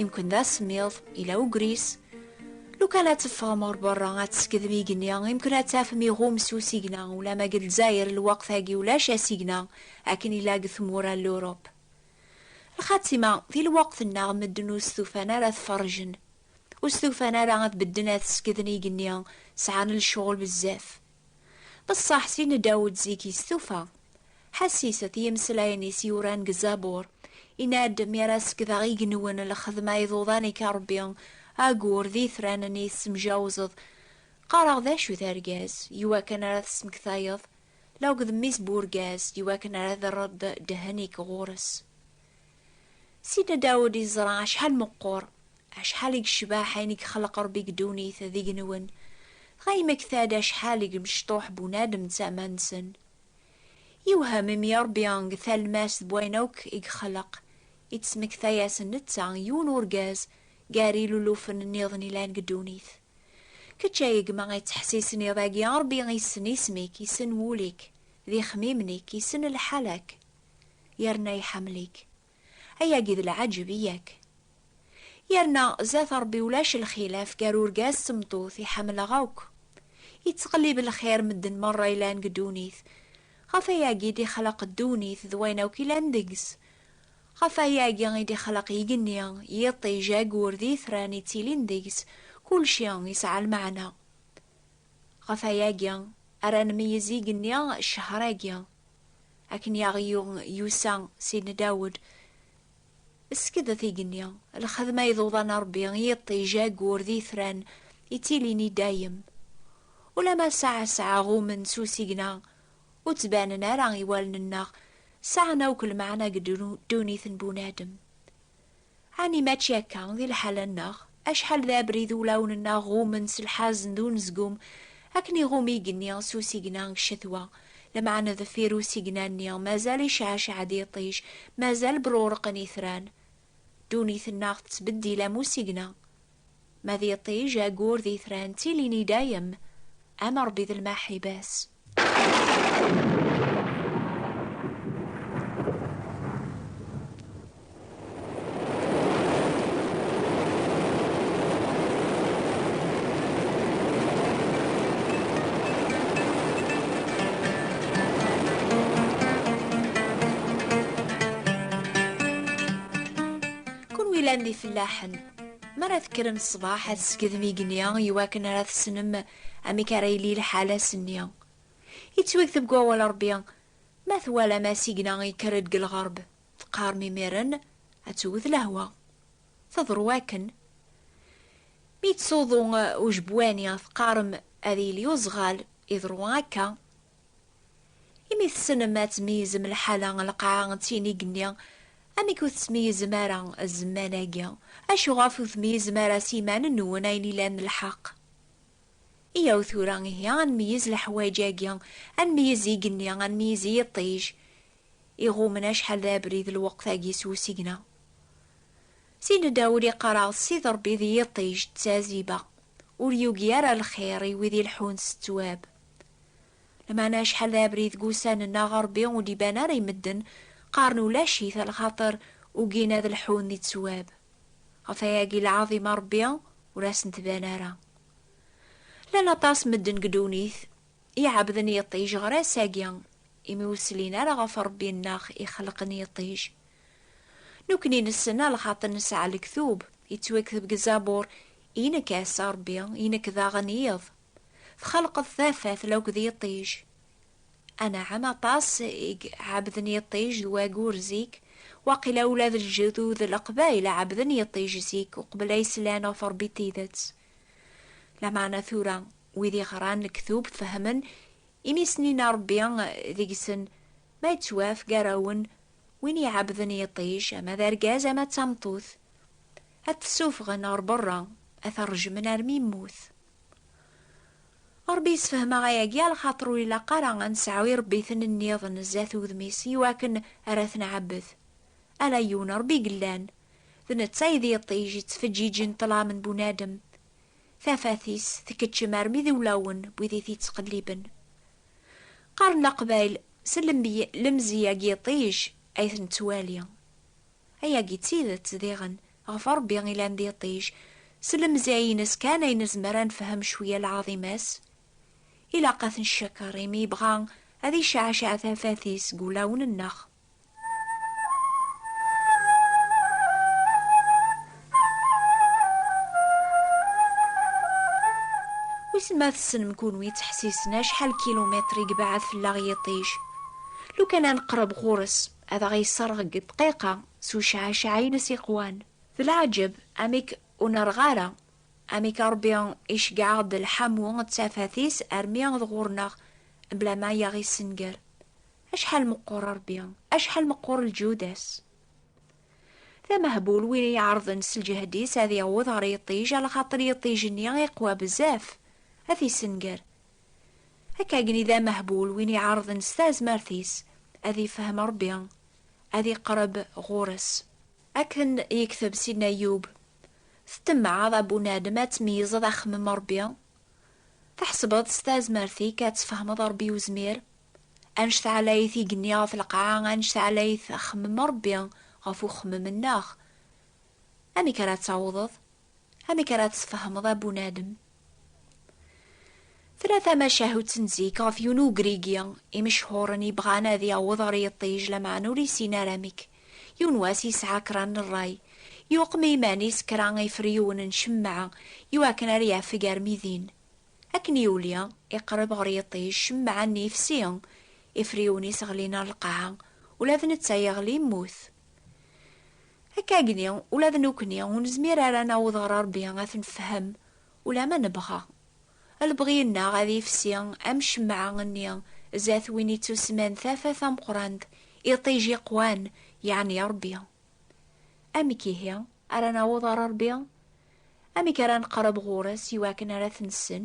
Imkun d asemmiḍ, ila ugris. Lukan ad teffɣem ɣer berra, ad teskedm igenni, imkun ad tafem iɣum s usigna, ulamma deg Lezzayer lweqt-agi ulac asigna akken ila deg tmura n Lurup. Lxatima, di lweqt-nneɣ medden ur stufan ara ad ferrjen, ur stufan ara ad bedden ad skedn igenni, sɛan lecɣel bezzaf. Bessaḥ s yenna Dawed zik i stufa. Ḥassiset i yimeslayen is yuran deg Zabur, yenna-d mi ara sekdeɣ igenwen lxedma iḍudan ik a Rebbi, agur d itran nni tessemjawzeḍ. Qqareɣ d acu d argaz, iwakken ara t-smektayeḍ, laug d mmi-s n urgaz, iwakken ara d-rreḍ ddhen ik ɣur-s. Sidna Dawed yeẓra acḥal meqqur, acḥal i yecbaḥ ayen i yexleq Rebbi deg ddunit d igenwen, dɣa yemmekta-d acḥal i yemecṭuḥ bunadem d tama-nsen. Yewhem imi Rebbi deg talmast n wayen akk i yexleq, ittesmekta-yasen netta, yiwen urgaz, gar ilulufen nniḍen yellan deg ddunit. Kečč a gma yettḥessisen i dagi, Rebbi yessen isem-ik, yessen wul-ik, d ixemmimen-ik, yessen lḥal-ak. Yerna iḥemmel-ik. Ayagi d lɛaǧeb i yak? Yerna zat Rebbi ulac lxilaf gar urgaz d tmeṭṭut i ḥemmleɣ akk. Yettqellib lxir medden merra i lan deg ddunit. Ɣef ayagi d ixleq ddunit d wayen akk i lan deg-s. Ɣef ayagi i d ixleq igenni, yiṭij, agur d itran i ttilin deg-s, kulci yesɛa lmeɛna. Ɣef ayagi ara nmeyyez igenni ccehṛ-agi. Akken i aɣ-yuɣ Yusa Sidna Dawed, ssekdet igenni, lxedma i d uḍan n Rebbi, i yiṭij, ayyur d yitran, ittilin i dayem. Ulamma saɛa saɛa ɣummen s usigna, ur ttbanen ara i wallen-nneɣ, sɛan akk lmeɛna deg ddunit n bunadem. Ɛni mačči akka di lḥala-nneɣ? Acḥal d abrid ulawen-nneɣ ɣummen s lḥazen d unezgum, akken iɣum igenni s usigna deg ccetwa, lameɛna deffir usigna-nni mazal icɛecɛed yiṭij, mazal bṛuṛqen itran. Ddunit-nneɣ tettbeddil am usigna, Ma d iṭij ayyur d itran ttilin i dayem, am Rebbi d lmaḥiba-s. Kunwi llan d ifellaḥen. Mi ara tekkrem ṣṣbeḥ, ad teskedm igenni i wakken ara tessnem amek ara yili lḥal ass-nni. Yettwakteb deg Wawal n Rebbi, Ma twalam asigna yekker-d deg lɣerb, teqqarem imiren, ad tewwet lehwa. Teḍru wakken. Mi yettsuḍu ujebwani, teqqarem ad yili uzɣal, iḍru akka. Imi tessnem ad tmeyyzem lḥala n lqaɛa d tin igenni, amek ur tettmeyyzem ara zzman-agi? Acu ɣef ur tmeyyzem ara s yiman-nwen ayen ilan lḥeq? Iyyaw tura ihi ad nmeyyez leḥwayeǧ-agi, ad nmeyyez igenni, ad nmeyyez yiṭij iɣummen acḥal d abrid lweqt-agi s usigna. Sidi Dawed iqqar-aɣ-d Ssid Ṛebbi d yiṭij d taziba, ur yugi ara lxir i wid ileḥḥun s ttwab. Lameɛna acḥal d abrid deg wussan-nneɣ Ṛebbi ur d-iban ara i medden, qqaren ulac-it a lxaṭer ugin ad lḥun di ttwab. Ɣef wayagi lɛaḍima Ṛebbi ur asen-tban ara. Llan aṭas n medden deg ddunit iɛebden yiṭij ɣer ass-agi imi ur slin ara ɣef Ṛebbi-nneɣ ixelqen yiṭij. Nukni nessen a lxaṭer nesɛa lektub, yettwakteb deg Zabur, I nekk ass, a Ṛebbi, i nekk daɣen iḍ. Txalqeḍ tafat la akked yiṭij? Anɛam, aṭas i ɛebden yiṭij d wayyur zik, waqila ula d lǧedud n Leqbayel ɛebden yiṭij zik uqbel ay slan ɣef Rebbi n tidet. Lameɛna tura wid yeɣran lektub fehmen imi snin Rebbi deg-sen ma yettwaf gar-awen win iɛebden yiṭij ama d argaz ama d tameṭṭut, ad t-ssuffɣen ɣer beṛṛa, ad t-rejmen armi yemmut. Ṛebbi yessefhem-aɣ ayagi, lxaṭer ur ilaq ara ad nesɛu iṛebbiten-nniḍen zdat udem-is i wakken ara t-nɛebbed. Ala yiwen Ṛebbi i yellan, d netta i d iṭij yettfeǧǧiǧen ṭṭlam n bunadem. Tafat-is tkeččem armi d iwlawen n wid i t-yettqelliben. Qqaren Leqbayel, s lemzi-agi iṭij ay t-nettwali. Ayagi d tidet, diɣen, Ɣef Ṛebbi i lan d iṭij, s lemzaya-ines kan ay nezmer ad nefhem cwiya lɛaḍima-s. Ilaq ad t-neccakeṛ imi yebɣa ad icceɛceɛ tafat-is deg wulawen-nneɣ. Wissen ma tessnem kunwi ttḥessisen acḥal n kilumitṛ i yebɛed fell-aɣ yiṭij? Lukan ad neqṛeb ɣur-s, ad aɣ-yesseṛɣ deg dqiqa, s ucɛacɛay n siqwan. D leɛǧeb amek ur nerɣ ara, amek Ṛebbi iceggeɛ-aɣ-d lḥamu d tafat-is armi d ɣur-neɣ mebla ma yaɣ-issenger. Acḥal meqqur Ṛebbi, acḥal meqqur lǧud-as! D amehbul win i iɛerḍen s lǧehd-is ad yaweḍ ɣer yiṭij alaxaṭer yiṭij-nni iqwa bezzaf, ad t-issenger. Akkagni d amehbul win iɛerḍen s tazmert-is ad ifhem Ṛebbi, ad iqreb ɣur-s. Akken yekteb Sidna Ayyub, Ttemɛaḍ a bunadem ad tmeyyzeḍ axemmem Rebbi, tḥesbeḍ s tazmert-ik ad tfehmeḍ Rebbi Uzmir, anect ɛlayet igenni ɣef lqaɛa, anect ɛlayet axemmem Rebbi ɣef uxemmem-nneɣ. Amek ara tawḍeḍ? Amek ara tesfehmeḍ a bunadem? Tella tamacahut n zik ɣef yiwen ugrigi imechhuren yebɣan ad yaweḍ ɣer yiṭij lameɛna ur yessin ara amek. Yiwen wass yesɛa kra n rray, yuqem i yiman-is kra n yifryuwen n cemmeɛ i wakken ar yafeg armi din. Akken yuli, iqreb ɣer yiṭij, cemmeɛ-nni yefsi, ifryuwen-is ɣlin ar lqaɛa, ula d netta yeɣli yemmut. Akka agni, ula d nukni ur nezmir ara ad naweḍ ɣer Rebbi ad t-nefhem, ulamma nebɣa. Lebɣi-nneɣ ad yefsi am ccemɛa-nni zdat win ittusemman Tafat tameqqrant, iṭij iqwan, yeɛni Rebbi. Amek ihi ara naweḍ ɣer Rebbi? Amek ara neqreb ɣur-s iwakken ara t-nessen?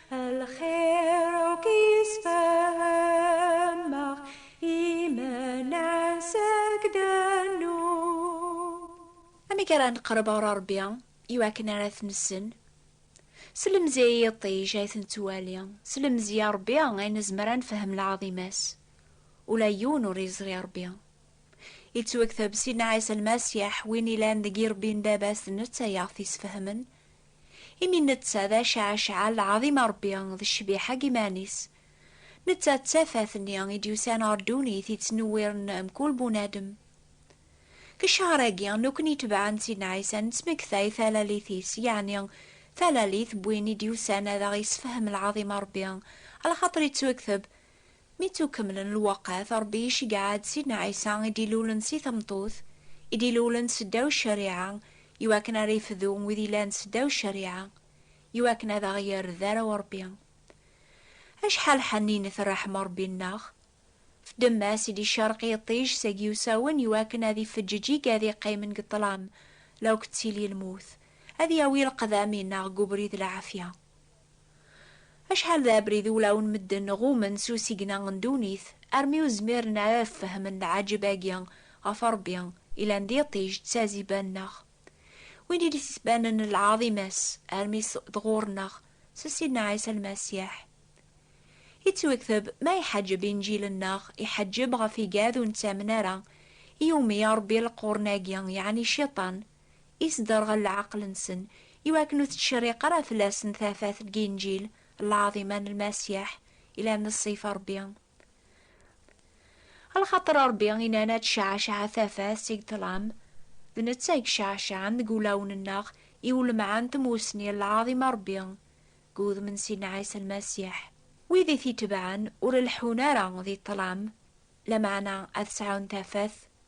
amek ara neqreb ɣer Rebbi iwakken ara t-nessen slemzi i yiṭij ay ten-ttwali slemzi a Rebbi ay nezmer ad nefhem lɛaḍima-s ula yiwen ur yeẓri Rebbi yettwakteb Sidna Ɛisa Lmasiḥ win ilan deg irebbi n baba-s d netta yaɣ t-isfehmen Imi netta d acɛacɛa lɛaḍim a Ṛebbi, d ccbiḥa deg yiman-is. Netta d tafat-nni i d-yusan ɣer ddunit yettnewwiren mkul bunadem. Deg ccehr-agi, nekkni itebɛen n Sidna Ɛisa nettmektay talalit-is, yeɛni talalit n win i d-yusan ad aɣ-yessefhem lɛaḍim a Ṛebbi, alaxaṭer yettwekteb, Mi ttukemmlen lweqt, Ṛebbi iceggeɛ-d Sidna Ɛisa i d-ilulen si tmeṭṭut, i d-ilulen seddaw ccariɛa, iwakken ara ifdu wid yellan seddaw ccariɛa, iwakken ad aɣ-yerr d arraw Ṛebbi. Acḥal ḥenninet ṛṛeḥma Ṛebbi-nneɣ! Fdemma-s i d-icerreq yiṭij s agiwsawen iwakken ad ifeǧǧeǧ i gad iqqimen deg ṭṭlam la ukettili lmut, ad yawi leqdam-inneɣ deg ubrid lɛafya. Acḥal d abrid i ulawen medden ɣummen s usigna n ddunit armi ur zmiren ara ad fehmen lɛaǧeb-agi ɣef Ṛebbi ilan d iṭij d taziba-nneɣ, win i d-isbanen lɛaḍima-s armi s d ɣur-nneɣ s Sidna Ɛisa Lmasiḥ. Ittwekteb, Ma iḥeǧǧeb inǧil-nneɣ, iḥeǧǧeb ɣef igad ur nettamen ara, i umi iṛebbi leqrun-agi, yeɛni Cciṭan, i sderɣel leɛqel-nsen, i wakken ur tettcerriq ara fell-asen tafat n Yinǧil lɛaḍima n Lmasiḥ yellan d ṣṣif n Ṛebbi. Lxaṭer Ṛebbi yenna-n ad tecɛeceɛ tafat seg ṭṭlam, d netta i iceɛceɛen deg wulawen-nneɣ i ulemɛen n tmussni n lɛaḍima n Ṛebbi deg wudem n Sidna Ɛisa Lmasiḥ. Wid i t-itebɛen ur leḥḥun ara di ṭṭlam, lameɛna ad sɛun tafat.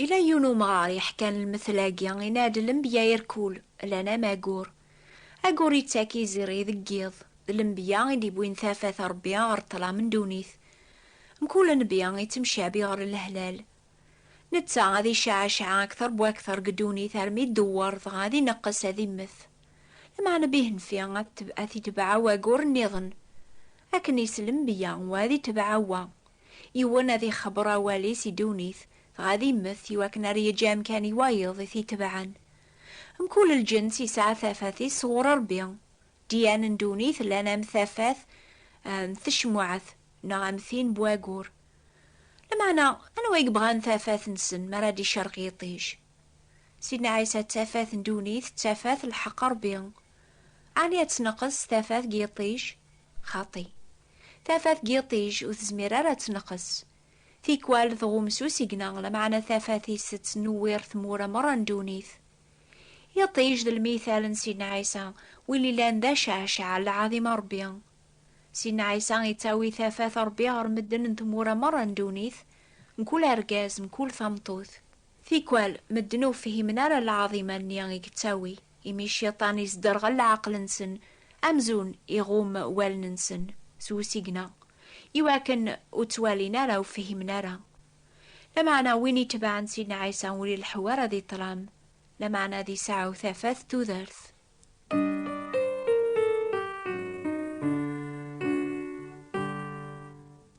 Yella yiwen umɣar yeḥkan lmetl-agi i Nadi Lembya Irkul, llan am agur. Agur yettak izirri deg yiḍ, d lembya i d-iwwin tafat n Rebbi ɣer ṭṭlam n ddunit. Mkul nnbi yettemcabi ɣer lehlal. Netta ad icaɛcaɛ akter bu akter deg ddunit armi iddewwer dɣa ad ineqqes ad immet. Lmeɛna bihenfi ad t-itbeɛ wagur nniḍen. Akken i s lembya wa ad itbeɛ wa. Yiwen ad ixebber awal-is i ddunit, dɣa ad immet, iwakken ar yeǧǧ amkan i wayeḍ i t-itebɛen. Mkul lǧens yesɛa tafat-is sɣur Ṛebbi. Ddyan n ddunit llan am tafat n tecmuɛt neɣ am tin n wayyur. Lameɛna, anwa i yebɣan tafat-nsen mi ara d-icerq yiṭij? Sidna Ɛisa d tafat n ddunit, d tafat n lḥeqq n Ṛebbi. Ɛni ad tneqqes tafat deg yiṭij? Xaṭi! Tafat n yiṭij ur tezmir ara ad tneqqes. Tikwal tɣum s usigna, lameɛna tafat-is tettnewwir tmura merra n ddunit. Iṭij d lmithal n Sidna Ɛisa, win yellan d acceɛceɛ n lɛaḍima n Ṛebbi. Sidna Ɛisa yettawi tafat n Ṛebbi ɣer medden n tmura merra n ddunit, mkul argaz, mkul tameṭṭut. Tikwal, medden ur fhimen ara lɛaḍima-nni i yettawi. Imi cciṭan isderɣel leɛqel-nsen, amzun iɣumm wallen-nsen s usigna, iwakken ur ttwalin ara, ur fhimen ara. Lameɛna win itebɛen Sidna Ɛisa ur ileḥḥu ara di ṭṭlam, lameɛna ad iseɛɛu tafat tudert.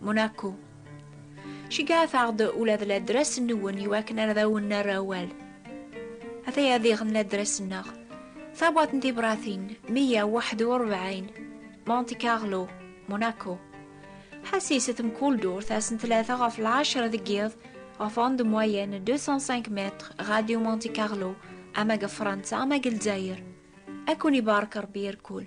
Monaco. Cegɛet-aɣ-d ula d ladras-nwen iwakken ar d awen-nerr awal. Ataya diɣ n ladras-nneɣ. Tabwaḍt n tibratin, meyya u waḥed u rebɛin, Monte Carlo, Monaco. Ḥassiset mkul durt ass n tlata ɣef lɛecṛa deg yiḍ, ɣef onde moyenne 205 mètres, Radio Monte Carlo, ama deg Fransa ama deg Lezzayer. Ad ken-ibarek Ṛebbi irkul.